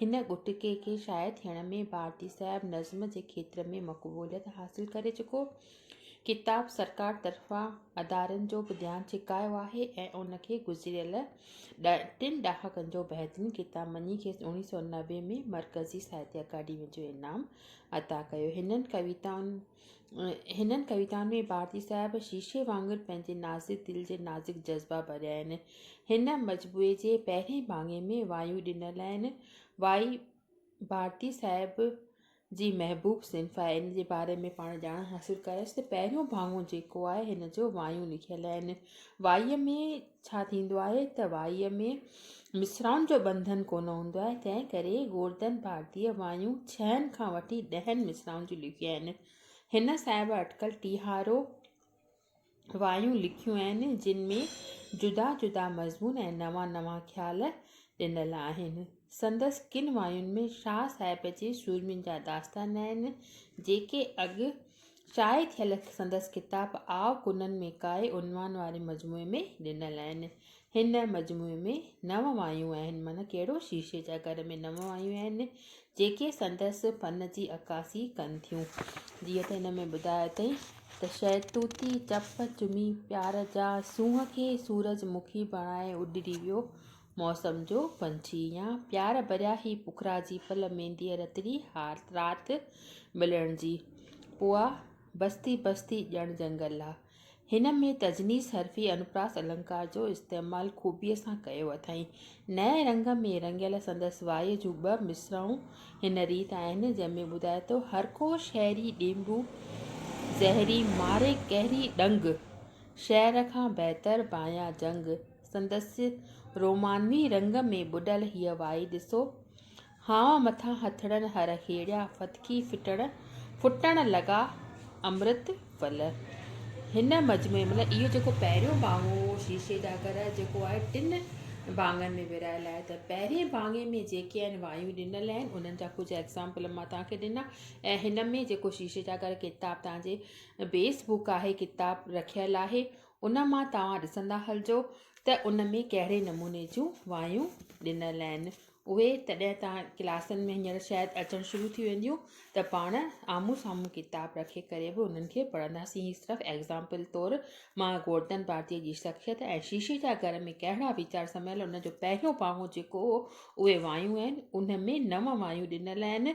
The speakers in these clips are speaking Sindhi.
هن ڳوٺڪي کي شاعر ٿيڻ ۾ ڀارتي صاحب نظم جي کيتر ۾ مقبوليت حاصل ڪري چڪو ڪتاب سرڪار طرفان ادارن جو به ڌيان ڇڪايو آهي ۽ ان کي گذريل ٽن ڏهاڪن جو بهترين ڪتاب مڃي کيس اوڻيهه سؤ نوي ۾ مرڪزي ساهتيه اڪاڊمي جو انعام عطا ڪيو هنن ڪويتائن هنن ڪويتائن ۾ ڀارتي صاحب شيشي وانگر پنهنجي نازڪ دل جي نازڪ جذبا ڀريا آهن. هن مجموعي جي پهرين ڀاڱي ۾ وايون ڏنل آهن. وائي ڀارتي صاحب جي محبوب صنف آهي. ان جي باري ۾ پاڻ ڄاڻ حاصل ڪيائسين ته پهريون ڀاڱو جيڪو آهي هن جو وايون لکيل آهن. وائيء ۾ ڇا ٿيندو آهي ته وائيء ۾ مصرائن جو ٻنڌن ڪونه هوندو آهي، تنهن ڪري گوردن ڀارتيء وايون ڇهن کان وٺي ڏهن مصرائن جون لکيون آهن. هن صاحب اٽڪل ٽيهارو وايون لکيون آهن، جن ۾ جدا جدا مضمون ۽ نوان نوان خيال ڏنل آهن. سندس ڪن واين ۾ شاهه صاحب جي سورمين جا داستان آهن، جيڪي اڳ شايع ٿيل سندس ڪتاب آء ڪنن ۾ ڪاء عنوان واري مجموعي ۾ ڏنل آهن. هن مجموعي ۾ نو وايون آهن، معنيٰ ڪهڙو شيشي جا گهر ۾ نو وايون آهن، جيڪي سندس فن جي عڪاسي ڪن ٿيون. جيئن ته هن ۾ ٻڌايو اٿئي ته شهتوتي چپ چمي پيار جا سونهن کي سورج مکي بڻائي اڏري ويو موسم جو پنڇي يا پيار ڀريا هي پکرا جي پل مينديء رتڙي هار رات ملڻ جي پوئا بستي بستي ڄڻ جنگل آ. هن ۾ تجنيس حرفي انوپراس النڪار جو استعمال خوبيء سان ڪيو اٿائين. نئين رنگ ۾ رڱيل سندس وائيء جون ٻه مصرعون هن ريت آهن، جنهن ۾ ٻڌائي ٿو، هر ڪو شهري ڏينڀو زهري ماري قهري ڏنگ، شهر کان بهتر بايان جنگ، سندس رومانوي رنگ ۾ ٻڏل هيء وائي ڏسو، هانء مٿان هٿڙن هر هيڙيا ڦٿڪي ڦٽڻ لڳا امرت ول. هن مجموعي ۾، اهو جيڪو پهريون ڀاڱو هو، شيشي جا گر، جيڪو آهي ٽن ڀاڱن ۾ ورهايل آهي ته پهرئين ڀاڱي ۾ جيڪي آهن وايون ڏنل آهن، انهن جا ڪجهه ايگزامپل مان توهان کي ڏنا ۽ هن ۾ جيڪو شيشي جا گر ڪتاب توهان جي بيس بوڪ آهي، ڪتاب رکيل آهي، ان مان توهان ڏسندا هلجو ته ان ۾ ڪهڙي نموني جون وايون ڏنل آهن اهي تڏهن توهان ڪلاسن ۾ هينئر شايد اچڻ شروع ٿي وينديون ته پاڻ آمهون سامهون ڪتاب رکي ڪري به انهن کي پڙهنداسين هي صرف ايگزامپل طور ماء گورڌن ڀارتيء جي شخصيت ۽ شيشي جا گهر ۾ ڪهڙا ويچار سميل ان جو پهريون پاهون جيڪو هو اهي وايون آهن ان ۾ نو وايون ڏنل آهن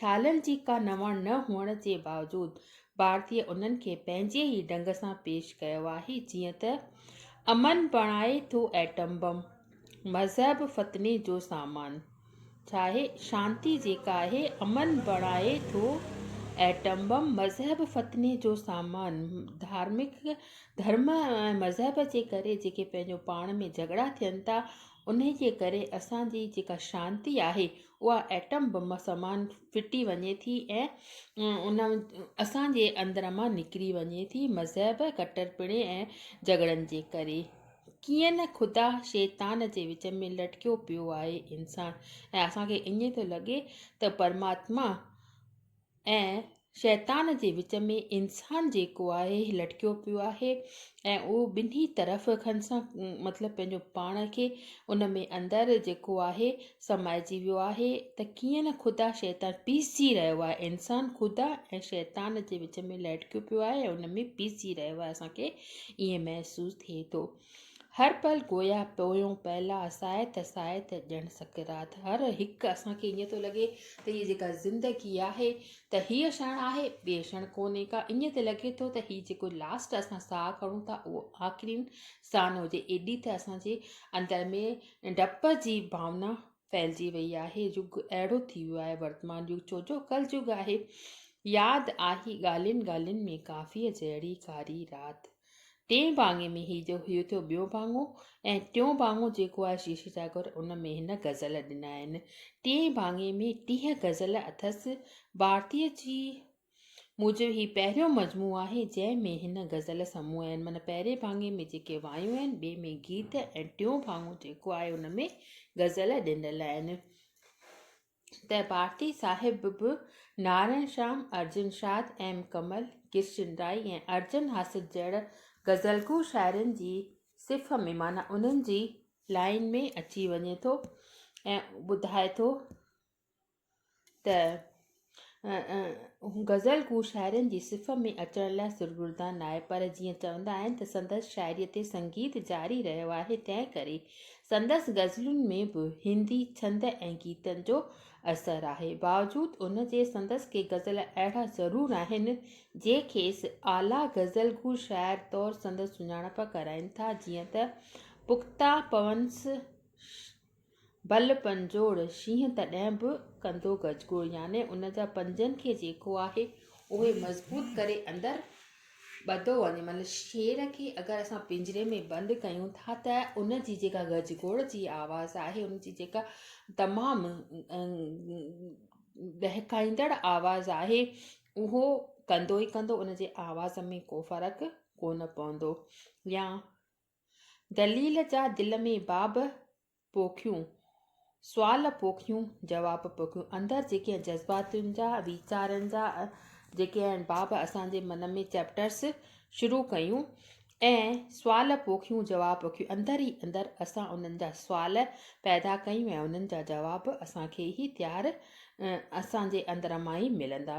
خيالن جي ڪا نواڻ نه هئڻ جي باوجود ڀارتي انهن کي پنهنجي ئي ڍنگ سان پيش ڪيو آهي جيئن ته امن بڻائي ٿو ايٽم بم، مذهب فتني جو سامان ڇاهي؟ شانتي جيڪا آهي امن بڻائي ٿو ايٽم بم، مذهب فتني جو سامان ڌارمڪ ڌرم ۽ مذهب جي ڪري جيڪي پنهنجو پاڻ ۾ جهڳڙا ٿين ٿا انهي جي ڪري اسان جي جيڪا شانتي آهي اها ايٽم بم سمان ڦٽي وڃي ٿي ۽ اسان جي اندر مان نڪري وڃي ٿي مذهب ڪٽرپڻي ۽ جهڳڙن جي ڪري ڪيئن نه خدا شيطان جي وچ ۾ لٽڪيو پيو آهي انسان ۽ اسان کي ائين ٿو لڳي ته پرماتما ۽ شيطان جي وچ ۾ انسان جيڪو آهي هي لٽڪيو پيو آهي ۽ اهو ٻنهي طرف کن سان مطلب پنهنجو پاڻ کي ان ۾ اندر جيڪو آهي سمائجي ويو آهي ته ڪيئن نه خدا شيطان پيسجي رهيو آهي انسان خدا ۽ شيطان جي وچ ۾ لٽڪيو پيو آهي ۽ ان ۾ پيسجي رهيو آهي اسان کي ائين محسوس ٿئي ٿو هر پل گويا پويون پيلا ساعت ساعت ڄڻ سڪرات هر هڪ اسان کي ائين ٿو لڳي ته هي جيڪا زندگي آهي ته هيء شڻ آهي ٻي شڻ ڪونهي ڪا ائين ته لڳي ٿو ته هي جيڪو لاسٽ اسان ساهه کڻون ٿا اهو آخرين ساهه نه هجي ايڏي ته اسان جي اندر ۾ ڊپ جي ڀاونا ڦهلجي وئي آهي. يگ اهڙو ٿي ويو آهي ورتمان يگ ڇو جو ڪل يگ آهي. ياد آهي ڳالهين ڳالهين ۾ ڪافيء جهڙي ڪاري رات. ٽئين ڀاڱي ۾ هي جو هيو ٿيو ٻيو ڀاڱو ۽ ٽيون ڀاڱو جيڪو آهي شيشي ٽاڪر ان ۾ هن غزل ڏنا آهن. ٽئين ڀاڱي ۾ ٽيهه غزل اٿس. ڀارتيء جي. موجب هي پهريون مجموعو آهي جنهن ۾ هن غزل سموع آهن معنيٰ پهرين ڀاڱي ۾ جيڪي وايون آهن ٻئي ۾ گيت ۽ ٽيون ڀاڱو جيڪو آهي ان ۾ غزل ڏنل آهن ته ڀارتي صاحب به نارائڻ شام ارجن شاد ايم ڪمل ڪرشن رائي ۽ ارجن حاسد جهڙن غزلگو شاعرن جي صف ۾ معنيٰ انهن جي لائين ۾ اچي وڃي ٿو ۽ ٻڌائي ٿو ته غزل گو شاعرن جي صف ۾ اچڻ لاء سرگردان ناهي پر جيئن چوندا آهن ته سندس شاعريء تي سنگيت جاري رهيو آهي تنهن ڪري سندس غزلن ۾ به هندي ڇند ۽ گيتن جو اثر آهي باوجود ان جي سندس ڪي غزل اهڙا ضرور آهن جي کيس اعليٰ غزل گو شاعر طور سندس سڃاڻپ ڪرائين ٿا جيئن ته پختا پونس بل پنجوڙ شينهن تڏهن به ڪندو گجگوڙ يعني ان جا پنجن کي جيڪو آهي اهي مضبوط ڪري اندر ٻڌو وڃي مطلب شير کي اگر اسان پنجري ۾ بند ڪيون ٿا ته ان جي جيڪا گجگوڙ جي آواز آهي ان جي جيڪا تمام ڏهڪائيندڙ آواز آهي اهو ڪندو ئي ڪندو ان جي آواز ۾ ڪو فرق ڪونه پوندو يا دليل جا دل ۾ باب پوکيون، سوال پوکيون، جواب پوکيون. اندر جيڪي جذباتن جا، ويچارن جا جيڪي آهن باب اسان جي من ۾ چيپٽرس شروع ڪيون ۽ سوال پوکيون جواب پوکيون اندر ئي اندر اسان انهن جا سوال پيدا ڪيون ۽ انهن جا جواب اسان کي ئي تيار اسان جي اندر مان ئي ملندا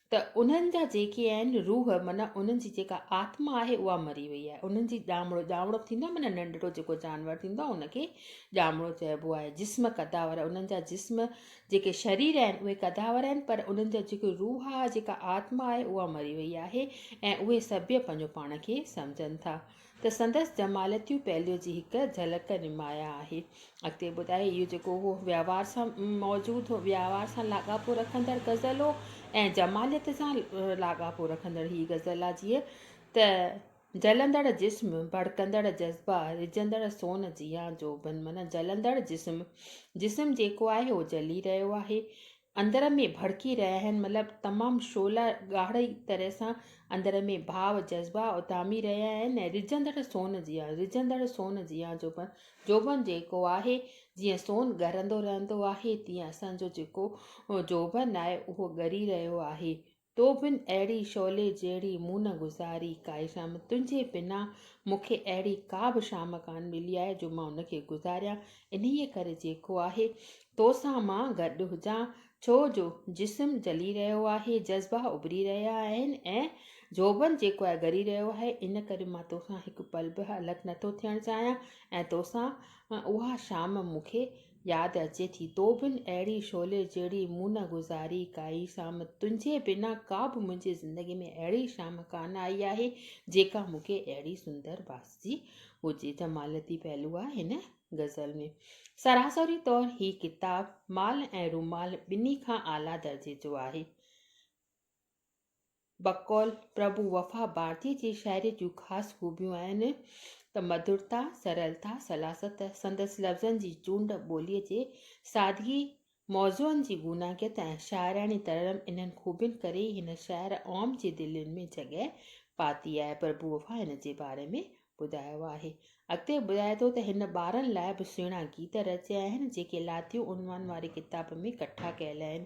ته انهن جا جيڪي آهن روح معنيٰ انهن جي جيڪا آتما آهي اها مري وئي آهي انهن جي ڄامڙو ڄامڙو ٿيندو آهي معنيٰ ننڍڙو جيڪو جانور ٿيندو آهي ان کي ڄامڙو چئبو آهي جسم قداور انهن جا جسم جيڪي شرير آهن اهي قداور آهن پر انهن جا جيڪي روح آهي جيڪا آتما آهي اها مري وئي آهي ۽ اهي سڀيئي پنهنجو پاڻ کي سمجهن ٿا ته سندس جماليتيون پهلو جي هڪ جهلڪ نمايان آهي. اڳتي ٻڌائي اهو جيڪو هو وهنوار سان موجود هو، وهنوار سان لاڳاپو رکندڙ غزل هو ۽ جماليت سان لاڳاپو رکندڙ هي غزل آ جيئن ته جلندڙ جسم، ڀڙڪندڙ جذبا، رجندڙ سون جيان جوڀن معنيٰ جلندڙ جسم، جسم جيڪو آهي اهو جلي رهيو آهي، اندر ۾ ڀڙڪي رهيا آهن مطلب تمام شعلا ڳاڙهي طرح سان اندر ۾ ڀاء جذبا اٿامي رهيا آهن ۽ رجندڙ سون جيان رجندڙ سون جيان جوڀن جوڀن جيڪو آهي جيئن سون ڳرندو رهندو آهي تيئن اسان جو جيڪو جوڀن آهي اهو ڳري رهيو آهي تو بن اهڙي شعلي جهڙي مون نه گذاري ڪائي شام، تنهنجي بنا مون کي اهڙي ڪا به شام ڪانه ملي آهي جو مان ان کي گذاريان، انهيء ڪري جيڪو آهي تو سان مان گڏ هجان، ڇو جو جسم جلي رهيو آهي، جذبا اڀري رهيا آهن ۽ زوبن جيڪو آهي ڳري رهيو آهي، ان ڪري مان تو سان هڪ پل به الڳ نٿو ٿيڻ چاهيان ۽ تو سان اها شام مون کي ياد اچي ٿي تو بن اهڙي شعلي جهڙي مون نه گذاري ڪائي شام تنهنجي بنا ڪا به منهنجي زندگي ۾ اهڙي شام ڪانه آئي آهي جيڪا مون کي اهڙي سندر ڀاسجي هجي ته مالتي پهلو آهي هن غزل ۾ سراسري طور هي ڪتاب مال ۽ رومال ٻنهي کان اعليٰ درجي جو آهي. بقول پرڀو وفا ڀارتيء جي شاعريء جون خاص خوبيون آهن ته مڌرتا، سرلتا، سلاست، سندس لفظن جي چونڊ، ٻوليء جي سادگي، موضوعن جي گوناگيت ۽ شاعراڻي ترنم انهن خوبين ڪري ئي هن شاعر عام جي دلين ۾ جڳهه پاتي آهي. پرڀو وفا هن جي باري ۾ ٻڌايو آهي. اڳتي ٻڌائي ٿو ته هن ٻارن لاء به سهڻا گيت رچيا آهن، جيڪي لاتيون عنوان واري ڪتاب ۾ ڪٺا ڪيل آهن.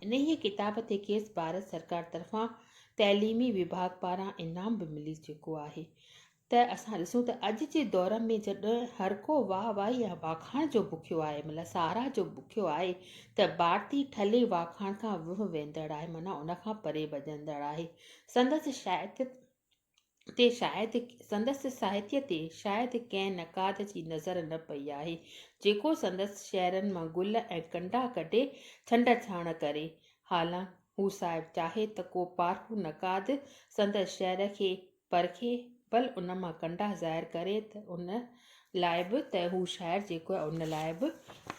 انهيء ڪتاب تي کيس ڀارت سرڪار طرفان تعليمي وڀاڳ پاران انعام به ملي چڪو آهي ته اسان ڏسون ته اڄ جي دور ۾ جڏهن هر ڪو واهه واهي ۽ واکاڻ جو بکيو آهي مطلب ساراهه جو بکيو آهي ته ڀارتي ٺلهي واکاڻ کان وهه ويندڙ آهي معنيٰ ان کان پري ڀڄندڙ آهي. سندس شاعريت تي شايد سندس ساهتيء تي شايد ڪنهن نقاد جي نظر نه پئي آهي، جيڪو سندس شعرن مان گل ۽ ڪنڊا ڪڍي ڇنڊ ڇاڻ ڪري. حالان هو صاحب چاهي ته ڪو پارکو نقاد سندس شعر کي پرکي بل ان مان ڪنڊا ظاهر ڪري ته ان لاء به ته هو شاعر جيڪو آهي ان لاء به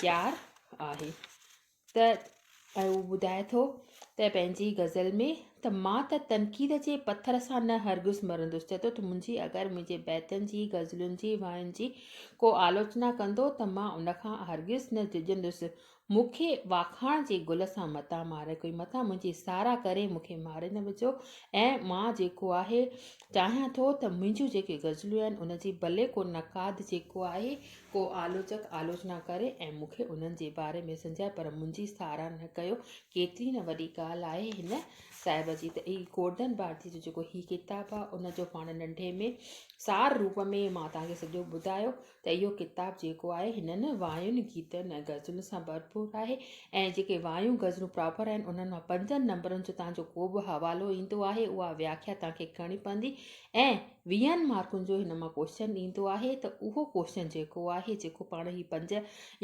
تيار آهي. ته هو ٻڌائي ٿو ته پنهنجي غزل ۾ ته مان ته تنقيد جي پٿر سان نه هرگز مرندس چئي ٿو ته منهنجي اگر منهنجي بيتن جي غزلن جي واين جي ڪو آلوچنا ڪندو ته مان ان کان هرگز نه ڊڄندس مون کي واکاڻ جي گل سان متان ماري ڪوئي متان منهنجي ساراهه ڪري مون کي ماري نه وجهو ۽ مان جيڪو آهي چاهيان ٿو ته منهنجون جيڪي غزلون آهن ان جي ڀلي ڪو نقاد جيڪو آهي ڪو آلوچڪ آلوچنا ڪري ۽ مون کي انهن جي باري ۾ سنجهائي پر منهنجي ساراهه نه ڪيو. ڪيتري نه وڏي ڳالهه آهي هن صاحب جي ته اي گورڌن ڀارتيء جو جيڪو هي ڪتاب آهي ان جو پاڻ ننڍي ۾ سار روپ ۾ مان توهان کي سڄو ٻڌايو ته اهو ڪتاب جيڪو آهي هنن واين گيتن ۽ غزلن سان ڀرپور آهي ۽ جيڪي وايون غزلون پراپر آهن انهن مان پنجن نمبرن جو توهان جو ڪو به حوالو ايندو آهي اها وياکيا توهان کي ڪرڻي پوندي ۽ ويهن مارڪن جو هن مان ڪوشچن ايندو آهي ته اهو ڪوشچن جيڪو آهي جيڪو پاڻ هي پنج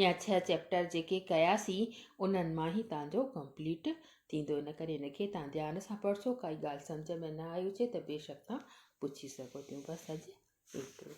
يا ڇهه چيپٽر جيڪي ڪياسين انهن مان هي توهان جو ڪمپليٽ ٿيندو ان ڪري هن کي توهان ڌيان سان پڙهجو ڪائي ڳالهه سمجهه ۾ نه آئي هجي ته بيشڪ توهان پڇي سگهو ٿيون بس اڄ ايترو.